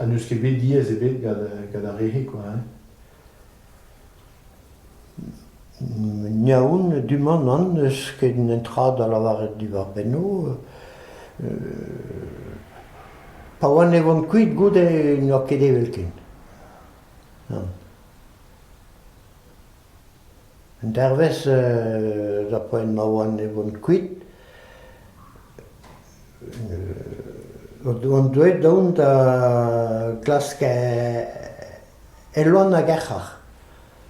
Ha n'eus ket bet diaes ebet gant ar re-se kwa hein. Yaoun, du-mañ nann n'eus ket netra da lavaret diwar-benno. Pa oan e oan kuit goude n'oa ket evelkent. Nann. Un dervezh d'ar poent ma oan e oan kuit on deuet dont da glask Elwan hag Erc'har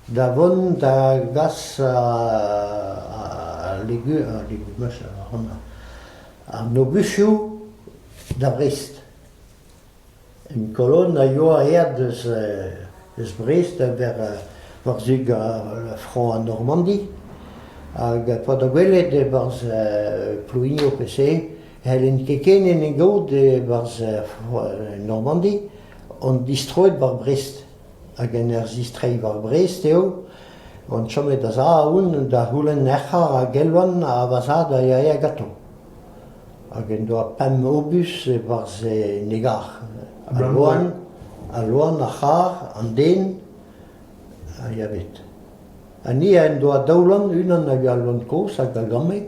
da vont da gas ar logusioù da Vrest. En Kolonn a yoa aet eus Brest da war-zu Frañs ha Normandi hag pa da welet e-barzh Plouigno pe se n'hellen ket ken en e gaout e-barzh Normandi on distroet war Brest hag en ur zistreiñ war Brest eo on chomet da-zahouarn da c'houlenn ec'h a ra Gelwan ha va zad a yae gantañ. hag en doa pemp obus e-barzh en egar. Al loen, al loen, ar c'harr, an den a ya bet. Ha ni en doa daou loen, unan hag al loen kozh hag a gamme.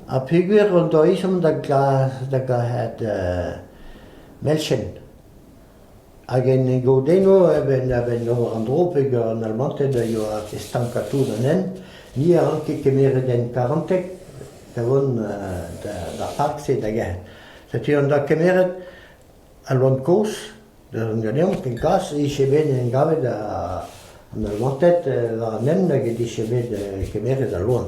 Ha peogwir hon doa ezhomm da garet uh, melchenn. Hag en e godennoù, eben a-benn ober an dro peger an Almated a yoa estankad tout an hent, ni a ranke kemeret hent karanteg da vont d'ar park-se da gerc'hat. Setu an doa kemeret al loen kozh da zont ganeomp kenkas, e-giz bet en em gavet an Almated war an hent hag he-dije bet kemeret al loen.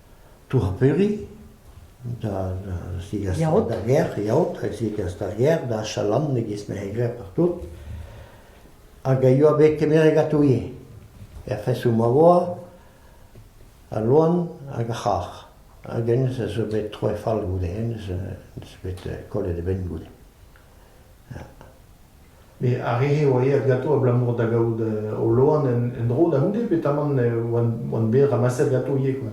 Tourperi, da zigasañ da gêr, yaout, da zigas da gêr, da chalan e-giz m'he glev partout, hag a yoa bet kemeret gatoù ivez, er fesoù ma oa, al loen hag ar c'harr, hag hennezh a zo bet troet fall goude, hennezh 'neus bet kollet e benn goude. Met ar re-se a oa aet ganto abalamour da gaout o loen en-dro da c'houde petamant oant bet ramaset ganto ivez kwa.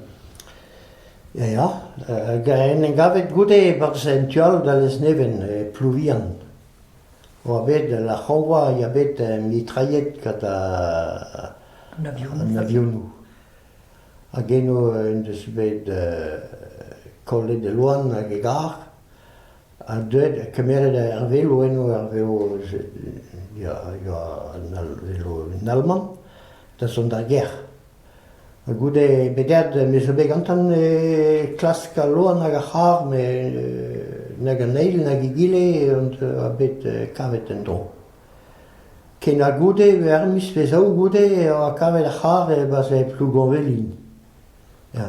Ya ya, hag en em gavet goude e-barzh en tu all da Lesneven, e Plouvihan, oa bet la c'hañvoa ya bet mitrailhet gant an avionoù. Hag eno en deus bet kollet e loen hag e garr. ha deuet ha kemeret ar velo eno ar velo ya ya an Alman da zont d'ar gêr. Ha goude bedead me zo bet gantan e klask al loen hag ar c'harr met nag an eil nag egile a bet kavet en-dro. Ken ha goude ar miz pe zaou goude e oa kavet ar c'harr e barzh Plougonvelin. Ya.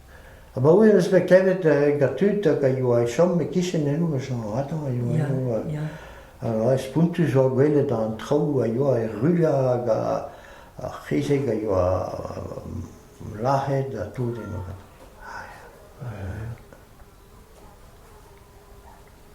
Abaoe em eus bet klevet gant tud hag a yoa e chom e-kichen eno ma chom outañ a yoa eno ha spontus oa gwelet an traoù a yoa er rullañ hag ar c'hezeg a yoa lazhet ha tout eno.